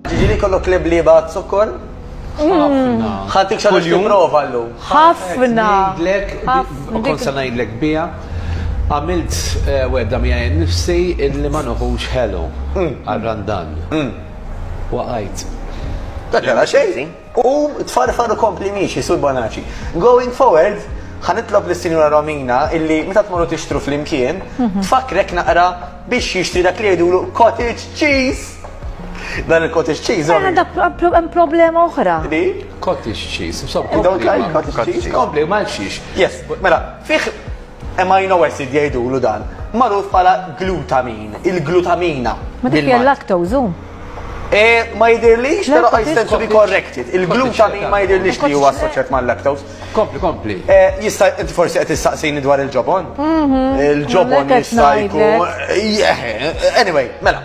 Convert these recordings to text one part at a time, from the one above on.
Ġiġili kollu klib li bat sokkor? Ħafna. Ħatik xa biex prova l Ħafna. U kol sa najdlek bija. Għamilt eh, wedda mija nifsi illi ma nuħux ħelu mm. għal-randan. Mm. Waqajt. Dak għala xejn. U tfarfar u kompli miexi, Sur Bonaci. Going forward, ħanitlob li Sinjura Romina illi meta tmorru tixtru flimkien, mhm. tfakrek naqra biex jixtri dak li jgħidulu cottage cheese. Dan il-cottage cheese. Għana da problema oħra. Di? Cottage cheese. Don't like cottage cheese. Kompli, malxiex. Yes, mela, fiħ Amino acid jgħidulu dan, magħruf bħala glutamin, il-glutamina. Ma dik hija l-lactose hu? Eh, ma jidirlix, pero I stand to be corrected. Il-glutamin ma jidirlix li huwa assoċjat ma' lactose. Kompli, kompli. Eh, jista' inti forsi qed tistaqsini dwar il-ġobon? Mhm. Il-ġobon jista' jkun. Eh, anyway, mela.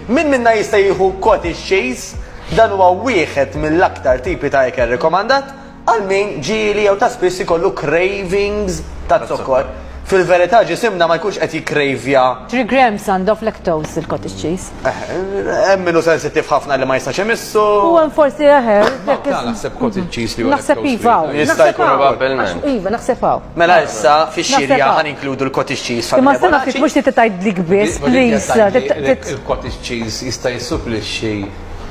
Min minna jista' jieħu cottage cheese dan huwa wieħed mill-aktar tipi ta' ikel rekomandat Għal min ġieli jew ta' spiss ikollu cravings taz-zokkor, fil-verità ġisimna ma jkunx qed jikkrejvja. Three grams and of lactose il-cottage cheese. Hemm min hu sensittiv ħafna li ma jistax imissu. U hemm forsi eħer. Malta naħseb cottage cheese li hu lactose free. Naħseb iva hawn. Jista' jkun probabbilment. Iva naħseb hawn. Mela issa fix-xirja ħa ninkludu l-cottage cheese familja Bonacci. Imma s-sena ftit mhux trid tgħidlik biss please. Il-cottage cheese jista' jissuplixxi.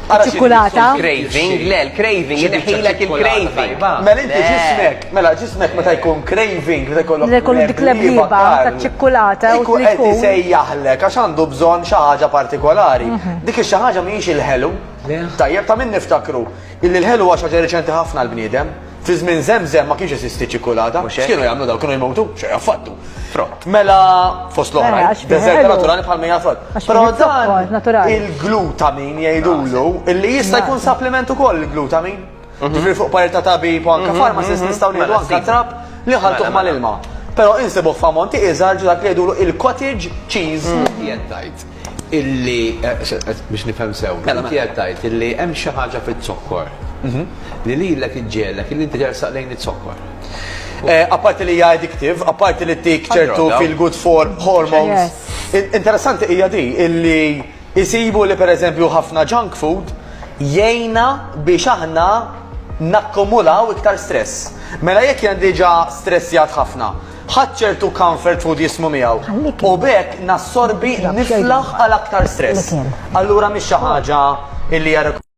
iċċikkulata. Craving, le, l-craving, jidħilek il-craving. Mela inti ġismek, mela ġismek meta jkun craving, meta jkollok. Le kollu dik l-ebliba ta' ċikkulata. Ikku qed isejjaħlek għax għandu bżonn xi ħaġa partikolari. Mhm. Dik xi ħaġa mhijiex il-ħelu. Tajjeb ta' min niftakru. Illi l-ħelu għax ħaġa reċenti ħafna l-bniedem. Fi żmien Żemżem ma kienx jeżisti ċ-ċikkulata. Mhux hekk? X'kienu jagħmlu dawn? Kienu jmewtu? Xejn affattu. Frott. Mela, fost Mela, l-oħrajn, għax kien deżerta ħelu. naturali bħal mija frott. Għax Però kien zokkor dan naturali. il-glutamin jgħidulu illi jista' jkun Nasa. supplement ukoll il-glutamin. Ġifieri fuq parir ta' tabib u anke pharmacist nistgħu ngħidu Mela, anke sibu. trab li nħaltuh Mela, mela. mal-ilma. Però insibuh f'ammonti iżgħar ġo dak li jgħidulu il-cottage cheese. Jien tajt. illi, biex nifhem sew, inti qed tgħid illi hemm xi ħaġa fiz-zokkor li lilek iġġegħlek illi inti tersaq lejn iz-zokkor. Apparti li hija addictive, apparti li ttik ċertu feel good for hormones. Interessanti hija di illi jsibu li pereżempju ħafna junk food jgħinna biex aħna nakkumulaw iktar stress. Mela jekk jien diġà stressjat ħafna, Ħadt ċertu comfort food jismu miegħu u b'hekk nassorbi niflaħ għal aktar stress. Allura mhix xi ħaġa li hija.